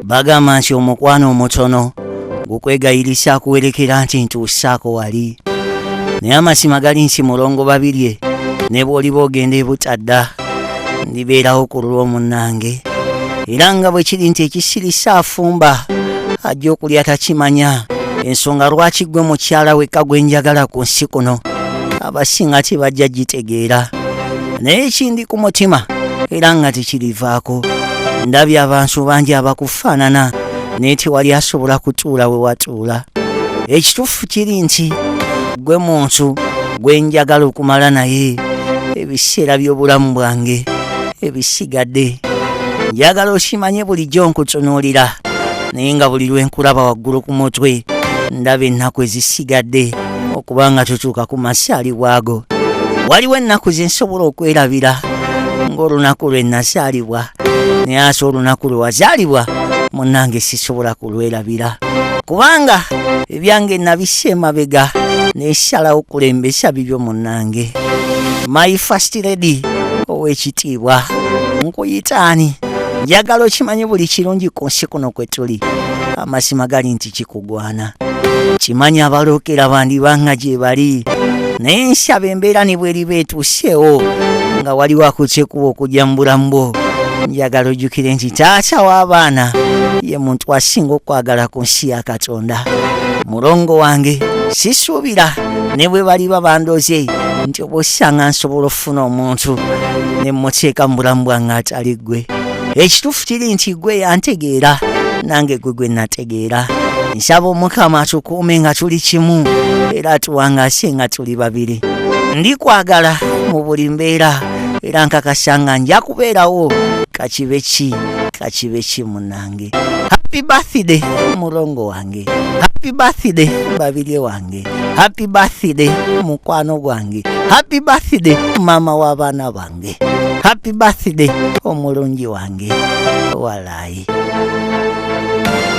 bagamba nti omukwano omutono gukwegayirisha akuwerekera nti ntuusaako wali naye amazima gali nti mulongo babirye ne bw'oliba ogenda ebutadda ndibeerawo ku lulwo munnange era nga bwe kiri nti ekisirisa afumba ajja okulya takimanya ensonga lwaki ggwe mukyala wekka gwe njagala ku nsi kuno abasinga tebajja gitegeera naye kindi ku mutima era nga tekirivaako ndabye abantu bangi abakufaanana naye tewali asobola kutuula we watuula ekituufu kiri nti gwe muntu gwe njagala okumala naye ebiseera by'obulamu bwange ebisigadde njagala okimanye bulijjo nkutunuulira naye nga buli lwe nkulaba waggulu ku mutwe ndaba ennaku ezisigadde okuba nga tutuuka ku masaali waago waliwo ennaku ze nsobola okwerabira ng'olunaku lwe nazaalibwa naye ase olunaku lwe wazaalibwa munnange sisobola kulwerabira kubanga ebyange nabisa emabega nesalawo okulembesa bibyo munnange my first lady ow'ekitiibwa nkuyitaani njagala okimanye buli kirungi ku nsi kuno kwe tuli amazima gali nti kiku gwana kimanyi abalookera bandiba nga gye bali naye nsaba embeera ne bweriba etuuseewo nga waliwo akukyekuba okujja mu bulamu bwo njagala ojjukire nti taata w'abaana ye muntu asinga okwagala ku nsi ya katonda mulongo wange sisuubira ne bwe baliba bandoze nti oba osanga nsobola okufuna omuntu ne mmuteeka mu bulamu bwange atali ggwe ekituufu kiri nti ggwe yantegeera nange ggwe gwe nate tegeera nsaba omukama atukuume nga tuli kimu era atuwangasye nga tuli babiri ndi kwagala mu buli mbeera era nkakasa nga nja kubeerawo kakibe ki kakibe ki munange happy birthday mulongo wange happy birthday babirye wange happy birthday mukwano gwange happy birthday mama w'abaana bange happy birthday omulungi wange walayi